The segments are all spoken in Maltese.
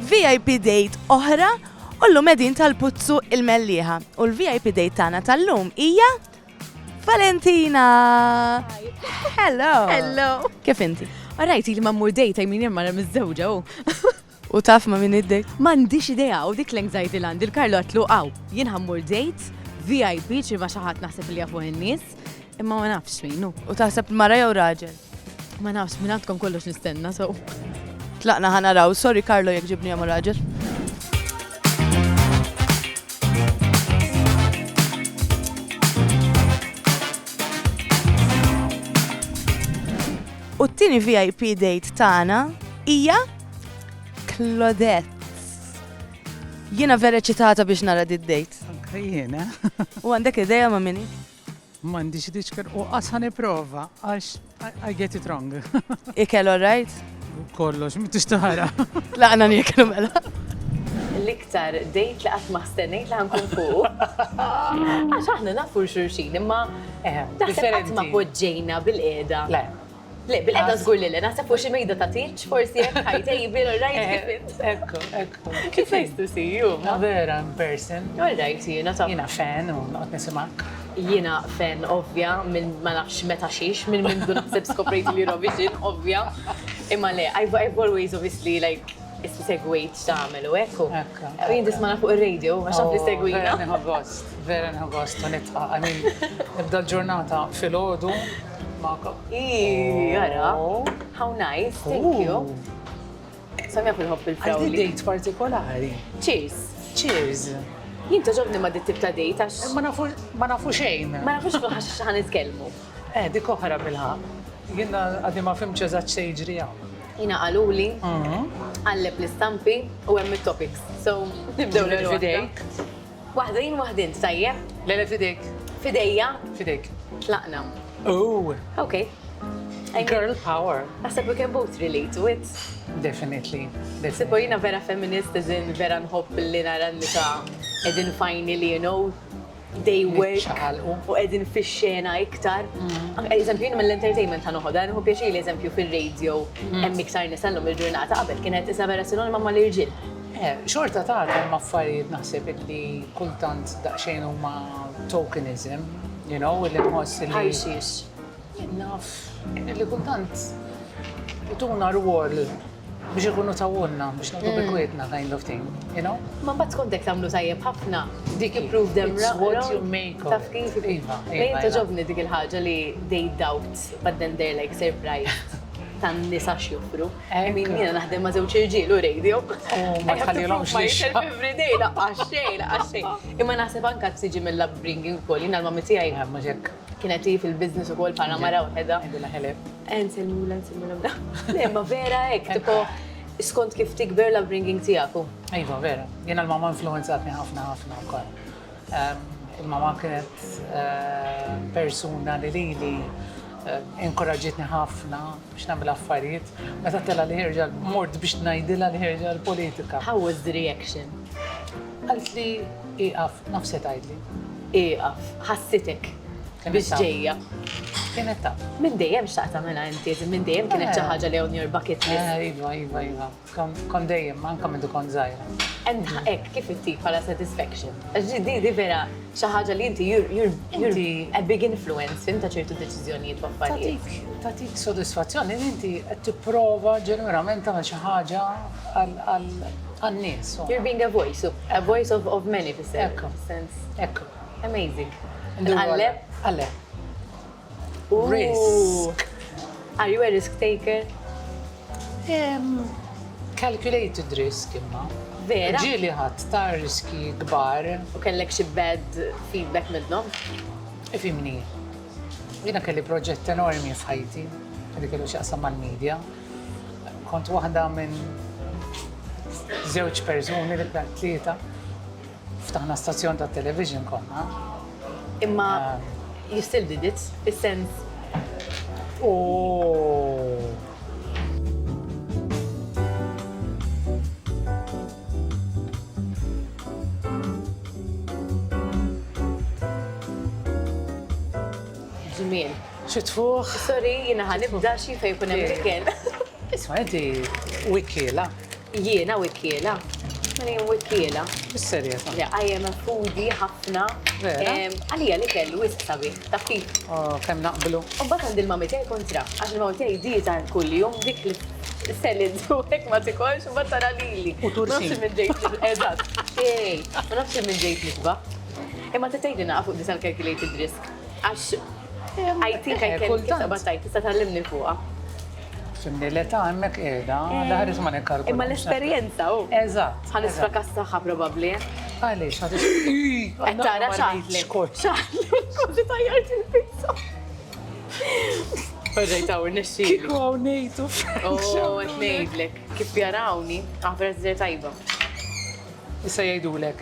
VIP date oħra u llum qegħdin tal-Puzzu il-Mellieħa u l-VIP date tagħna tal-lum hija Valentina! Hello! Hello! Kif inti? Rajt li ma mmur dejta jmin hemm mara miż-żewġa u. U taf ma min id-dejt? M'għandix idea u dik l-anxiety land il-Karlo għatlu għaw. Jien ħammur dejt, VIP ċi ma xi ħadd naħseb li jafuh in-nies, imma ma nafx min hu. U taħseb mara jew raġel? Ma nafx, minn għandkom kollox nistenna, so. Tlaqna ħanaraw, sorry Karlo jek ġibni għamu raġel. U t-tini VIP date tagħna hija Claudette. Jiena vera ċitata biex nara did date. Jiena. U għandek ideja ma' minni? M'għandix id-diċker u qas ħa nipprova għax I get it wrong. Ikel all right? Kollox, m'intix taħara. Laqna nieklu mela. L-iktar dejt li qatt ma stennejt li ħankun fuq. Għax aħna nafu xurxin imma eh, naħseb qatt ma poġġejna bil-qiegħda. Le. Le, bil-qeda żgur li le, naħseb fuq xi mejda ta' tieġ, forsi hemm high table, all right, kif int. Ekku, ekku. It's nice to see you. Ma vera, in person. All right, jiena taf. Jiena fan u noqgħod nisimgħek. Jiena fan ovvja minn ma nafx meta xiex, minn mindu naħseb skoprejt li Eurovision, ovvja. Imma le, I've always obviously like issi segwejt x'tagħmel u hekk u. Ekku. U jien tismana fuq ir-radio għax taf li segwina. Vera nħu gost, vera nħu gost u nitħaq. I mean, nibda l-ġurnata filgħodu. Magħkom. Iih, ara. How nice, thank you. Sam jaf il-ħobb il-frawli. Għandi dejt partikolari. Cheers. Cheers. Jien toġobni ma dit ta' dejt għax. Eh, ma nafu xejn. Ma nafu xejn għax xaħan nitkellmu. Eh, dik oħra bilħa. Jien għaddi ma fimx eżatt se jiġri hawn. Jina għaluli, mhm. għalleb l-istampi u hemm topics So, nibdew l-fidejk. Waħdin waħdin, tajjeb? Le le f'idejk. F'idejja? F'idejk. Tlaqna. Ooh! Okay. Girl power. Naħseb we can both relate to it. Definitely. Sebo jina vera feminist, eżin vera nħobb li nara nisa edin fajni li, you know, they work u edin fi xena iktar. Mm. Eżempju, jina mill-entertainment ta' noħoda, nħu pjaċi li eżempju fil-radio, mm. hemm iktar nisallum il-ġurnata qabel kienet isa vera sinonima ma l-irġil. Eh, xorta ta' hemm affarijiet naħseb illi kultant daqsxejn huma tokenism, you know, illi nħoss illi. Ħajsis. Naf, illi kultant ituna rwol biex ikunu tawunna, biex naqdu mm. bikwietna kind of thing, you know? Ma bat kontek tamlu tajjeb ħafna. Dik improve them It's what you make of Taf kif? Iva, iva. Lejn toġobni dik il-ħagġa li they doubt, but then they're like surprised tan nisa xjufru. I mean jiena naħdem ma' żewġ irġiel u radio. U ma tħallilhomx lix. I have to prove myself every day, laqqas xejn, laqqas xejn. Imma naħseb anke tiġi mill-upbringing ukoll, jiena l-mommy tiegħi. Le mhux hekk. Kienet hi fil-business ukoll bħala mara waħedha. Ngħidilha hello. Eh nsellmulha, nsellmulha mra. Le imma vera hekk, tipo skont kif tikber l-upbringing tiegħek hu. Iva vera. Jiena l-mamma influwenzatni ħafna ħafna wkoll. Il-mamma kienet persuna li lili inkoraġġietni ħafna. biex nagħmel affarijiet meta tela' li ħerġa mort biex ngħidilha li ħerġa l-politika. How was the reaction? Qaltli ieqaf, naf se tgħidli. Ieqaf, ħassitek biex ġejja. Kienet taf. Minn dejjem xtaqt tagħmilha inti, minn dejjem kienet xi ħaġa li on your bucket list. Iva, iva, iva. Kont dejjem, anke meta kont żgħira. Qed nħaqek kif ittik bħala satisfaction. Għax di di vera xi ħaġa li inti you're you're you're a big influence fim ta' ċertu deċiżjonijiet u affarijiet. Tagħtik tagħtik sodisfazzjon li inti qed tipprova ġenwinament tagħmel xi ħaġa għan-nies. You're being a voice, a voice of of many fis-sens. Ekku. Amazing. Indur għal le? Għal le. Risk. Are you a risk taker? Calculated risk imma. Vera? Ġili ħadd ta' riski kbar. U kellek xi bad feedback minnhom? Ifimni. Jiena kelli proġett enormi f'ħajti, li kellu x'jaqsam mal-medja. Kont waħda minn żewġ persuni li tlieta Ftaħna stazzjon tat-television konna. Imma you still did it, fis-sens. Ooh! Żmien. Xi tfuħ. Sorry, jiena ħa nibda xi fejn jkun hemm l-ikel. Isma' inti wikiela. Jiena wikkiela? Mela jien wikkiela? Bis-serjetà. Le, I am a foodie ħafna. Vera? Em, Għalija li kellu wisq sabiħ, taf kif? Oh, kemm naqblu. U mbagħad għand il-mami tiegħi kontra, għax il-mami tiegħi dieta kuljum dik li selid u hekk ma tikolx, mbagħad tara lili. U tursin. Ma nafx minn ġejt li- Eżatt. Xejn. Ma nafx minn ġejt nisba. Imma tista' tgħidli naqa' fuq disan calculated risk. Għax I think I Eh, can kultant. tista' battajt, tista' tgħallimni fuqha. Simni l-età hemmhekk qiegħda, l-aħħar isma' nikkalkulaw. Imma l-esperjenza hu. Eżatt. Ħa nisfrakassaha probabli. Għaliex ħa Qed tara ċaħli. Kont tajjart il-pizza. Ġejt hawn nixxi. Kieku hawn ngħidu. Oh, qed ngħidlek. Kif jarawni, aħbar żżir tajba. Issa jgħidulek,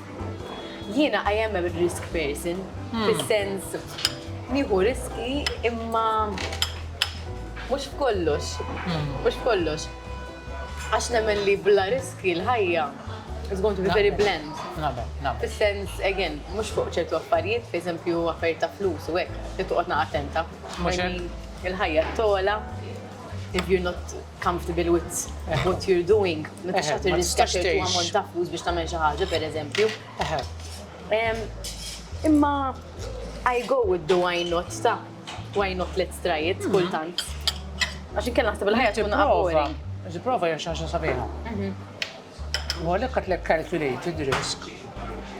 Jiena I am a risk person, hmm. fis-sens nieħu riski imma mhux f'kollox, hmm. mhux f'kollox. Għax nemmen li bla riski l-ħajja is going to be very bland. Fis-sens, again, mhux fuq ċertu affarijiet, per eżempju, affarijiet ta' flus u hekk, li toqgħod attenta. Il-ħajja tola, if you're not comfortable with what you're doing, ma tistax tagħti riskja ċertu ammont ta' flus biex tagħmel xi ħaġa, pereżempju. Imma I go with the why not ta' why not let's try it mhm. kultant. Għax inkella naħseb il-ħajja tkun għabori. Ġiprova hija xi ħaġa sabiħa. Mhm. U għalhekk qed lek calculated risk.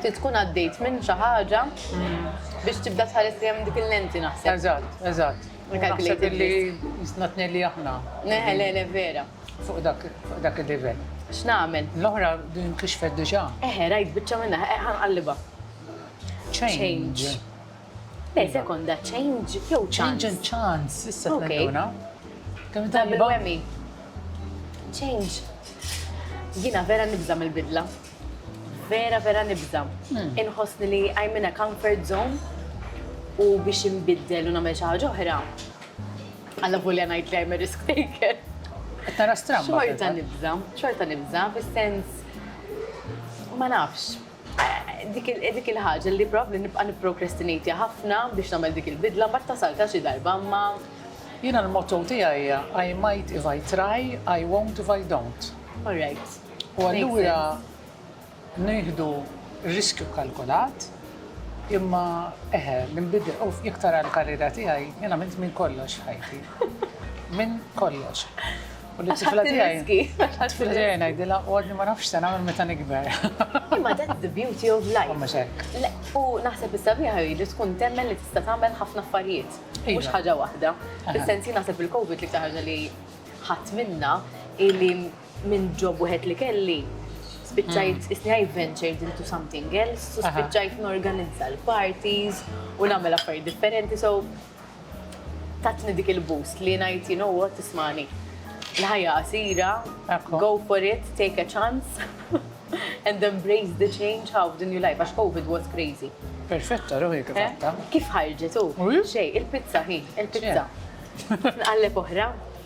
Ti tkun għaddejt minn xi ħaġa mhm. biex tibda tħares li hemm dik il-lenti naħseb. Eżatt, eżatt. U naħseb illi jistna tnelli aħna. Le, le, le, vera. Fuq dak il-livell. X'nagħmel? L-oħra din inkixfet diġà. Eħe, rajt biċċa minnha, ħa nqallibha. Change. Le, sekonda, change jew chance? Change and chance, issa tnelluna. Kemm tajba? Change. Jiena vera nibża' mill-bidla. Vera vera nibża'. Inħossni li I'm in a comfort zone u biex inbiddel u nagħmel xi ħaġa oħra, allavolja ngħid li I'm a risk taker. Qed tara stramba. Xorta nibża', xorta nibża' fis-sens ma nafx. Dik il-ħaġa li probabbli nibqa' nipprokrastinejtja ħafna biex nagħmel dik il-bidla mbagħad tasaltha xi darba imma. Jiena l-motto tiegħi hija I might if I try, I won't if I don't. All right. U allura nieħdu riskju kkalkulat imma eħe, l-inbidel, u jekk tara l-karriera tiegħi, jien għamilt minn kollox ħajti. Minn kollox. U li tifla tiegħi. Tifla tiegħi ngħidilha għodni ma nafx se nagħmel meta nikber. Imma that's the beauty of life. Imma xek. U naħseb is-sabiħa li tkun temmen li tista' tagħmel ħafna affarijiet. Iva. Mhux ħaġa waħda. Fis-sensi naħseb il-COVID li ħaġa li ħadd minna illi Minn job wieħed li kelli, spiċċajt isni I ventured into something else u spiċċajt norganizza l-parties u nagħmel affarijiet differenti so tatni dik il-boost li ngħid you know what ismagħni. Il-ħajja qasira, go for it, take a chance and embrace the change how the new life għax Covid was crazy. Perfetta ruħi kif għatta. Kif ħarġet u? Xej, il-pizza hi, il-pizza. Nqalleb oħra.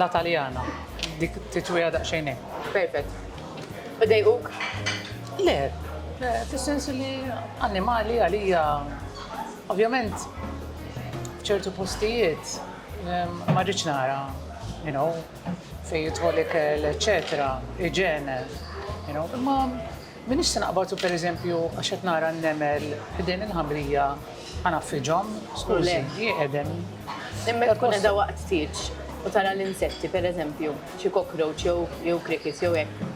La Taljana, dik titwiha daqsxejn hekk. Perfett. U dejquk? Le, fis-sens li annimali għalija ovvjament f'ċertu postijiet ma rridx nara, you know, fejn jidħol ikel, eċċetera, iġene, you know, imma M'iniex se naqbad u pereżempju għax qed nara n-nemel ħdejn il-ħamrija ħanaffriġhom, skużi, hi qegħdem. Imma jekk tkun qiegħda waqt tieġ u tara l-insetti pereżempju, xi cockroach jew crickets jew hekk.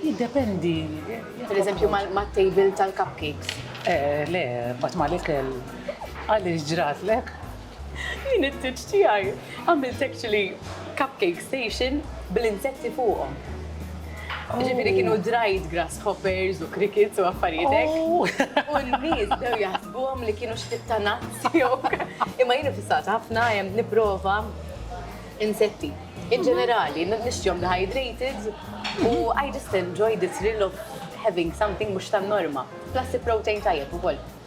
Jiddependi. Pereżempju mat-table tal-cupcakes. Eh, le, mbagħad mal-ikel. Għaliex ġratlek? Jien it-tieġ tiegħi għamilt actually cupcake station bl-insetti fuqhom. Ġifieri kienu dried grasshoppers u crickets u affarijiet hekk. Oh. U n-nies dew jaħsbuhom li kienu xtit ta' nuts jew. Imma jien fissat ħafna hemm nipprova insetti. In ġenerali, nixtjom dehydrated u I just enjoy the thrill of having something mhux tan-norma. Plus protein tajjeb ukoll.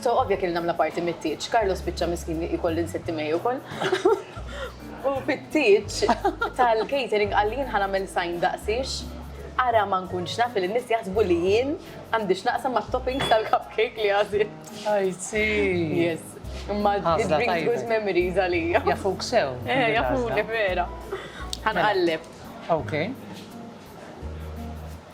So ovvja kelli nagħmla parti mit-tieġ. Carlo spiċċa miskin li jkolli nsitti mej ukoll. U fit-tieġ tal-catering qal li jien ħanamel sign daqsix ara ma nkunx naf li n-nies jaħsbu li jien għandix naqsam ma' toppings tal-cupcake li għazil. Għajzi. Yes. Imma it brings good memories għalija. Jafuk sew. Eh, jafuk vera. Għanqallib. Ok.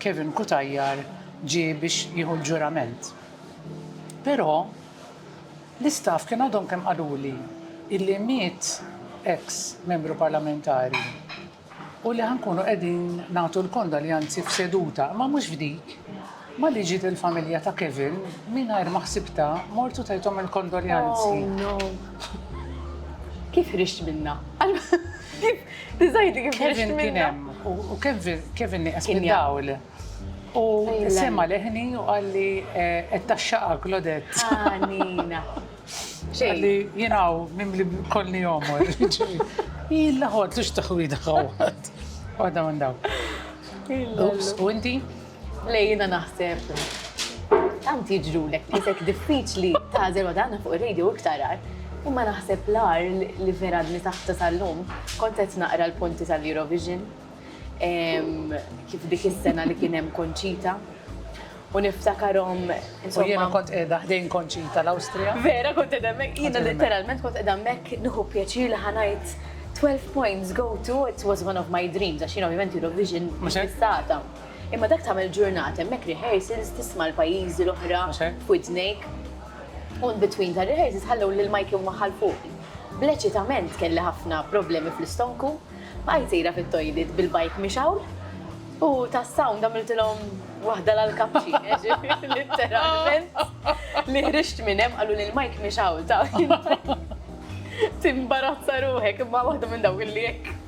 Kevin Cutajar ġie biex jieħu l-ġurament. Però l-istaff kien għadhom kemm qaluli illi miet eks membru parlamentari u li ħa nkunu qegħdin nagħtu l-kondoljanzi f'seduta, imma mhux f'dik. Malli ġiet il-familja ta' Kevin, mingħajr ma ħsibtha, mort u tajthom il-kondoljanzi. Oh no! Kif ħriġt minnha? Diżajdi kif ħriġt minnha? Kevin kien hemm u Kevin nieqes mid-dawl. U sema' leħni u qalli qed tgħaxxaqha Claudette. Ħanina. Qalli jien hawn mimli b'kolli għomor. Illa ħodlu x'taħwida ħawwad. Waħda minn dawn. U inti? Le jiena naħseb tant jiġrulek li jisek diffiċli tażel u dan fuq ir-radio iktar għar. Imma naħseb l-għar li vera li taħta tal-lum kont qed naqra l-punti tal-Eurovision kif dik is-sena li kien hemm konċita u niftakarom. U jiena kont qiegħda ħdejn konċita l-Awstrija. Vera kont qiegħda mek, jiena literalment kont qiegħda mek nħu pjaċir li ħanajt 12 points go to it was one of my dreams għax jiena ovvjament Eurovision mhux Imma dak tagħmel ġurnata hemmhekk rehearsals tisma' l-pajjiżi l-oħra f'widnejk. U between ta' rehearsals ħallew lil Mikey u maħal fuq. Bleċitament kelli ħafna problemi fl-istonku, bqajt sejra fit-toilet bil-bike mixgħul u tas-sound għamiltilhom waħda l-għall-kapċin, ġifieri litteralment li ħriġt minn hemm qalu lil Mike mixgħul taf. Timbarazza ruħek imma waħda minn dawk li hekk.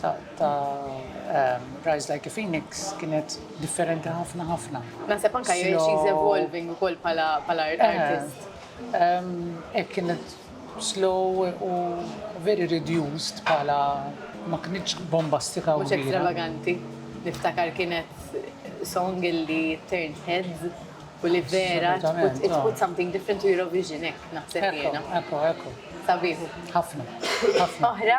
ta' Rise Like a Phoenix kienet differenti ħafna ħafna. Naħseb anka jgħid she's evolving ukoll bħala eh, artist. Ek kienet slow u very reduced bħala ma kienx bombastika u. Mhux extravaganti. Niftakar kienet song illi turned heads u li vera it oh. put something different to Eurovision ek naħseb jiena. Ekku, ekku. Sabiħu. Ħafna. Oħra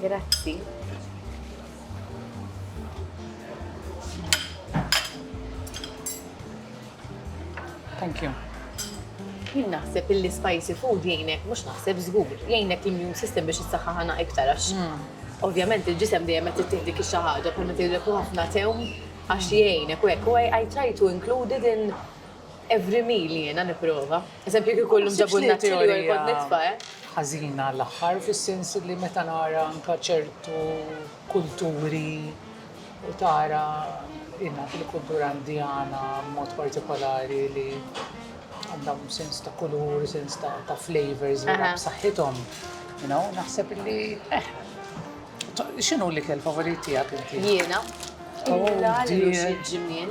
Grazzi. Thank you. Jien naħseb illi spicy food jgħinek, mhux naħseb żgur, jgħinek l-immune system biex is-saħħa ħana iktar għax. Hmm. Ovvjament il-ġisem dejjem qed tittieħ dik xi ħaġa bħalma tgħidilek ħafna tewm għax jgħinek u hekk. U I try to include it in Every meal jiena nipprova. Eżempju kieku llum ġabulna chili oil kont nitfa', eh. Ħażina l-aħħar fis-sens li meta nara anke ċertu kulturi u tara jiena fil-kultura Indjana b'mod partikolari li għandhom sens ta' kulur, sens ta' flavours vera b'saħħithom, you know, naħseb li eh. X'inhu l-ikel favorit tiegħek inti? Jiena? Il-ġimien.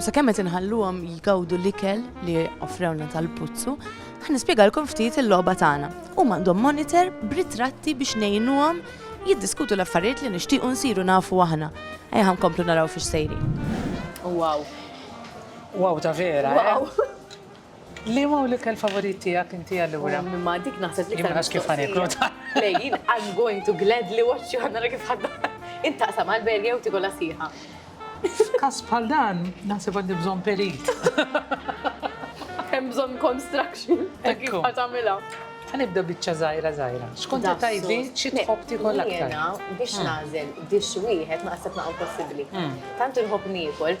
U sa kemmet inħalluhom jgawdu l-ikel li offrewna tal-puzzu, ħan nispjegalkom ftit il-logħba tagħna. U għandhom monitor b'ritratti biex ngħinuhom jiddiskutu l-affarijiet li nixtiequ nsiru nafu aħna. Ejja komplu naraw fiex sejri. Wow. Wow ta' vera. Eh? Wow. Liema hu l-ikel favorit tiegħek inti allura? Imma dik naħseb li kienet kif ħaniklu ta'. Lejn, I'm going to gladly watch you ħadna kif ħadda. Intaqsam għal berja u tikola siħa. F'każ bħal dan, naħseb għandi bżonn perit. Hemm bżonn construction. Kif ħatamilha. Ħanibda biċċa żgħira żgħira. Xkont tajbi xi tħobb tikol aktar. Biex hmm. nażel dix wieħed ma qasab naqgħu possibbli. Hmm. Tant inħobb niekol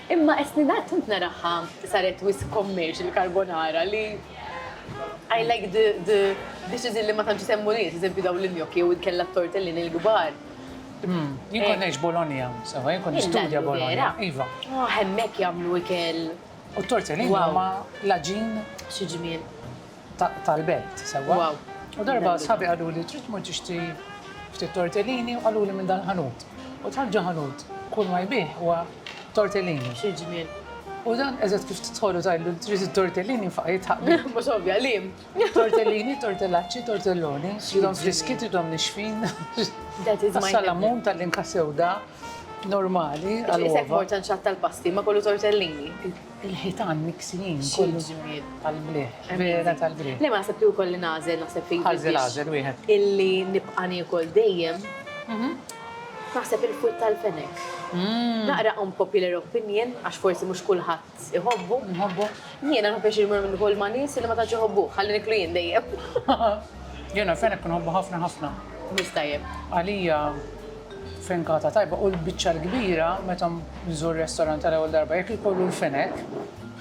Imma Estlin għad tant naraha saret wisq commercial il-carbonara li I like the the dishes li ma tantx isemmu nies, eżempju dawn l-gnocchi jew inkella t-tortellini l-kbar. Jien kont ngħix Bologna, sewa jien kont nistudja Bologna. Iva. Hemmhekk jagħmlu ikel. U t-tortellini huma l-għaġin. Xi ġmiel. tal-belt sewwa. Wow. U darba sħabi qaluli trid tmur tixtri ftit tortellini u qaluli minn dal-ħanut. U dħalt ġo ħanut, kull ma jbigħ huwa tortellini. Xi ġmiel. U dan eżatt kif tidħol u tgħidlu li trid it-tortellini nfaqa' jidħaq bik. Mhux ovvja, qliem. Tortellini, tortellaċċi, tortelloni, tridhom friski, tridhom nixfin. That is my name. Salamun tal-inka sewda normali għall-uova. Isek mort għand xatt tal-pasti, ma kollu tortellini. Il-ħitan miksijin kollu żmijiet tal-bliħ, vera tal-bliħ. Le ma naħseb li hu kolli nagħżel naħseb li. Ħażel għażel wieħed. Illi nibqa' niekol dejjem. Naħseb il-fwitt tal-fenek. Naqra unpopular opinion għax forsi mhux kulħadd iħobbu. Iħobbu. Jiena nħobb għax immur minn kull ma' nies illi ma tantx iħobbuh, ħalli niklu jien dejjem. Jiena l-fenek inħobbu ħafna ħafna. Wisq tajjeb. Għalija. Frinkata tajba u l-biċċa l-kbira meta nżur restorant għal ewwel darba jekk ikollu l-fenek,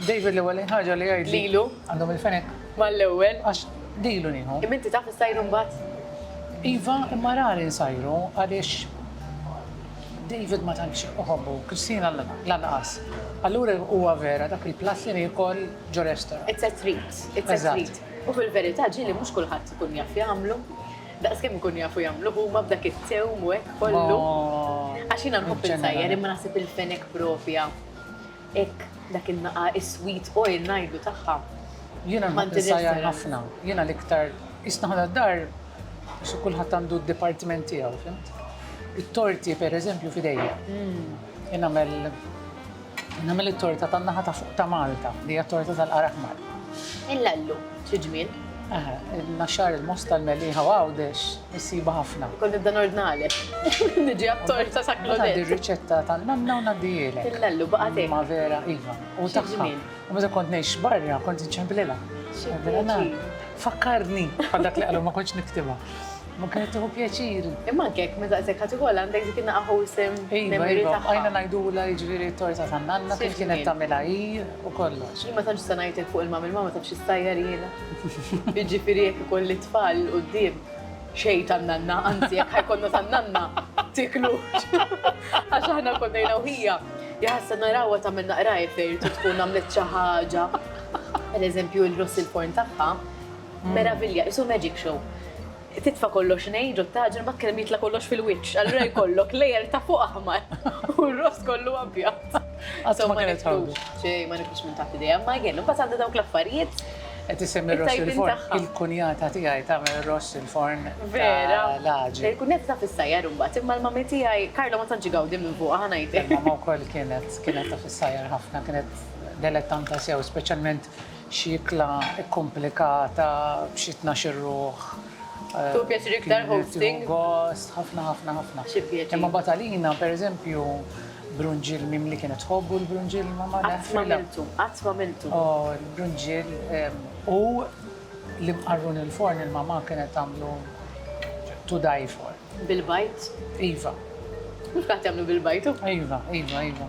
David l-ewwelin ħaġa li jgħidli. Lilu. Għandhom il-fenek. Mal-ewwel. Għax lilu nieħu. Imma inti taf issajru mbagħad? Iva, imma rari nsajru għaliex David ma tantx iħobbu, Christina lanqas. Allura huwa vera dak il-platt li niekol ġo restorant. It's a treat, it's a treat. U fil-verità ġieli mhux kulħadd ikun jaf jagħmlu. Daqs kemm ikunu jafu jagħmlu huma b'dak it-tewm u hekk kollu. Għax jiena nħobb insajjar imma naħseb il-fenek propja hekk dak in-naqa' is-sweet oil ngħidlu tagħha. Jiena nħobb insajjar ħafna. Jiena l-iktar qisna aħna d-dar xi kulħadd għandu d-dipartiment tiegħu, fimt? It-torti pereżempju f'idejja. Jien nagħmel Nagħmel it-torta tan-naħa ta' fuq ta' Malta, li hija t-torta tal-qar aħmar. Il-lallu, xi ġmiel! Eħe, il-naxxar, il-mosta, l-meliħa u Għawdex issibha ħafna. Kont nibda nordnalek. Niġi għat-torta sa Claudette. Ngħaddi r-riċetta tan-nanna u ngħaddihielek. Il-lallu baqa' tiegħi. Ma vera, iva. U tagħha. Xi ġmiel! U meta kont ngħix barra, kont inċemplilha. Xi ġmiel! Fakkarni bħal dak li qalu ma kontx niktibha. Ma kienet tieħu pjaċir. Imma anke jekk minn daqshekk ħadd ikollha għandek dik in-naqa' wholesome memory tagħha. Iva, iva, bqajna ngħidulha jiġifieri t-torta tan-nanna kif kienet tagħmilha hi u kollox. Jien ma tantx nista' ngħidlek fuq il-mummy, il-mummy taf xi ssajjar jiena. Jiġifieri jekk ikolli t-tfal 'l quddiem, xejn tan-nanna, anzi jekk ħa jkollna tan-nanna, tiklu. Għax aħna konna jiena u ħija, ja ħassa narawha tagħmel naqrajr fejn irid tkun għamlet xi ħaġa. Pereżempju l-rossel porn tagħha. Meravilja, qisu magic show. Titfa' kollox ngħid u tagħġen mbagħad kellem jitla' kollox fil-wiċċ, allura jkollok layer ta' fuq aħmar u r-ross kollu abjad. Qatt ma kellha tħawdu. Xejn, ma nifhimx minn taħt idejha, imma again, imbagħad għandha dawk l-affarijiet Qed issemmi r-ross it-tajbin fil-forn. tagħha. Il-kunjata tiegħi tagħmel ir-ross fil-forn Vera. tal-għaġi. Il-kunjata taf issajjar imbagħad, imma l-mummy tiegħi, Carlo ma tantx igawdi minn fuqha, ħa ngħidlek. Il-mama wkoll kienet, kienet taf issajjar ħafna, kienet delettanta sew, speċjalment Xi ikla kkumplikata b'xi tnax-il ruħ. Tieħu pjaċir iktar hosting? Tieħu gost, ħafna ħafna ħafna. Xi pjaċir. Imma mbagħad għalina, per eżempju, brunġiel mimli kienet tħobbu l-brunġiel mamma? Le. Qatt m'għamiltu, qatt m'għamiltu. Oh, il-brunġiel u l-imqarrun il-forn il-mamma kienet tagħmlu to die for. Bil-bajd? Iva. Mhux kulħadd jagħmlu bil-bajd hu. Iva, iva, iva.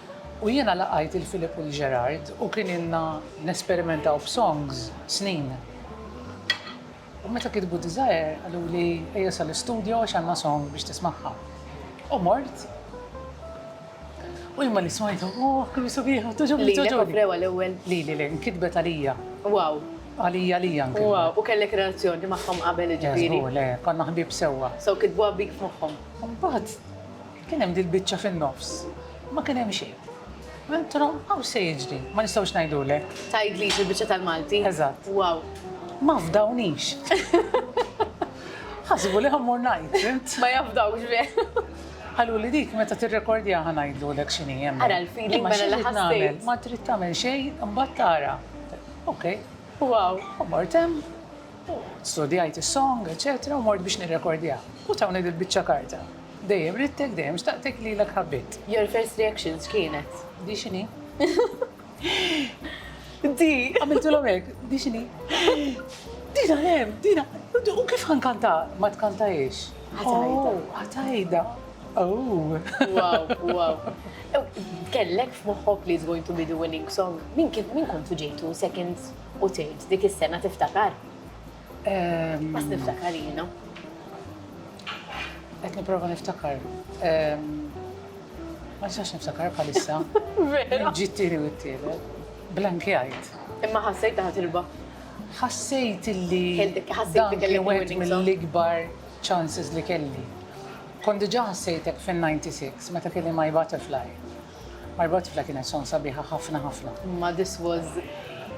U jiena laqajt lil Philip u lil Gerard u kien ilna nesperimentaw b'songs snin. U meta kitbu Desire qaluli ejja sal-istudjo għax għandna song biex tismagħha. U mort u jien malli smajtha, ohh kemm hi subieħa, togħġobni, togħġobni. Lilek offrewha l-ewwel? Lili, lili, inkitbet għalija. Wow! Għalija, għalija inkitbet. Wow! U kellek relazzjoni magħhom qabel jiġifieri? Le, żgur, le, konna ħbieb sewwa. So kitbuha bik f'moħħhom. U mbagħad Kien hemm dil-biċċa fin-nofs. Ma kien hemm xejn. Mentro, hawn se jiġri. Ma nistgħux ngħidulek. Tgħidlix il-biċċa tal-Malti? Eżatt. Wow. Ma fdawnix. Ħasbu li ħa mmur ngħid, fimt? Ma jafdawx bih. Qaluli dik meta tirrekordjaha ħa ngħidulek x'inhi hemmhekk. Ara l-feeling mela li ħassejt. Ma trid tagħmel xejn, imbagħad tara. Okej. Wow. U mort hemm, studjajt is-song, eċċetera, u mort biex nirrekordjaha. U tawni dil-biċċa karta. Dejjem ridtek, dejjem xtaqtek, lilek ħabbitt. Your first reaction x'kienet? Di x'inhi? Di! Għamiltilhom hekk, di x'inhi? Dina hemm, dina. U kif ħankanta? Ma tkantajiex. Ħatajda. Ħatajda. Oh. Wow, wow. Kellek f'moħħok li is going to be the winning song. Min kif min kontu ġejtu second u tgħid dik is-sena tiftakar? Bas niftakar jiena. Qed nipprova niftakar. Ma nistax niftakar bħalissa. Vera. Ġittiri u t-tieni. Blankjajt. Imma ħassejt taħt ilba. Ħassejt illi. Ħassejt li kelli wieħed mill-ikbar chances li kelli. Kont diġà ħassejtek fin-96 meta kelli My Butterfly. My Butterfly kienet song sabiħa ħafna ħafna. Ma this was.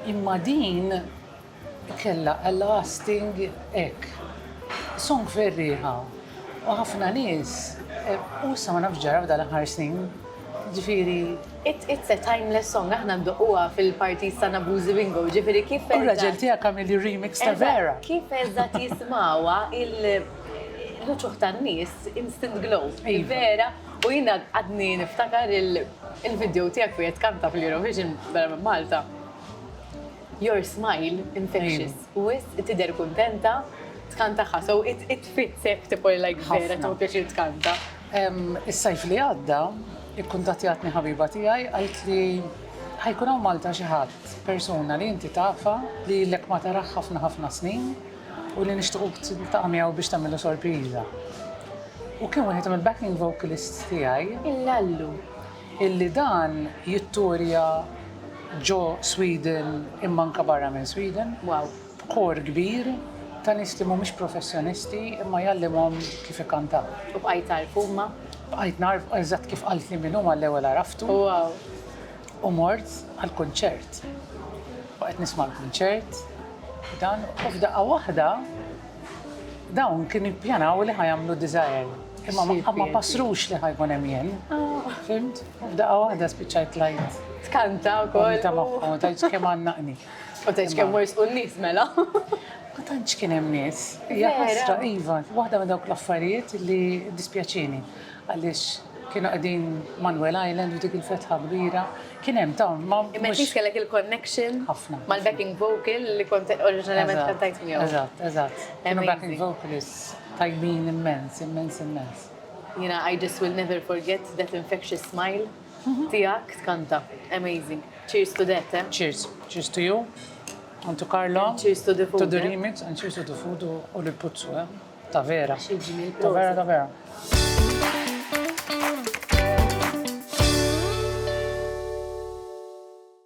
Imma din Kellha a lasting hekk song ferrieħa u ħafna nies u issa ma nafx ġara f'dan l-aħħar snin ġifieri. It it's a timeless song aħna ndoqquha fil-parties tagħna Boozy Bingo ġifieri kif eżatt. U r-raġel tiegħek għamel li remix ta' Vera. Eżatt kif eżatt jismgħuha l-uċuħ tan-nies instant glow f'dil Vera u jiena għadni niftakar il-video tiegħek fejn qed tkanta fl-Eurovision Malta. Your smile infectious. Wisq tidher kuntenta, dkan tagħha so it it fits hekk tipo like vera tieħu pjaċir tkanta. Is-sajf li għadda, ikkuntattjatni ħabiba tiegħi qaltli li ħa jkun hawn Malta xi ħadd, persuna li inti tafha li ilek ma tarah ħafna ħafna snin u li nixtiequk tiltaqa' miegħu biex tagħmillu sorpriża. U kien wieħed mill-backing vocalists tiegħi. Il-Lallu. illi dan jittourja ġo Sweden imma anke barra minn Sweden b'kor kbir ta' nies li mhumiex professjonisti imma jgħallimhom kif ikkantaw. U bqajt tagħrfu huma? Bqajt nagħrfu, eżatt kif qaltli min hu mal-ewwel għaraftu. U mort għall-kunċert. U qed nisma' l-kunċert u dan u f'daqqa waħda Dawn kienu jippjanaw li ħa jagħmlu diżajer. Imma ma ma passrux li ħajkun hemm jien. Fimt? F'daqqa waħda spiċċajt lajt. Tkanta wkoll. Ta' magħhom, ta' kemm għannaqni. U ta' kemm wers u n-nies mela. Ma tantx kien hemm nies. Hija ħasra iva, waħda minn dawk l-affarijiet li dispjaċini. Għaliex kienu qegħdin Manuel Island u dik il-fetħa kbira, kien hemm dawn ma. Imma inti kellek il-connection mal-backing vocal li kont oriġinarjament kantajt miegħu. Eżatt, eżatt. Kienu backing vocalists tajbin immens, immens, immens. Jiena I just will never forget that infectious smile tiegħek tkanta. Amazing. Cheers to that, eh? Cheers. Cheers to you and to Carlo. Cheers to the food. To the remix and cheers to the food u lill-puzzu, eh? Ta vera. Xi ġmiel. Ta vera ta vera.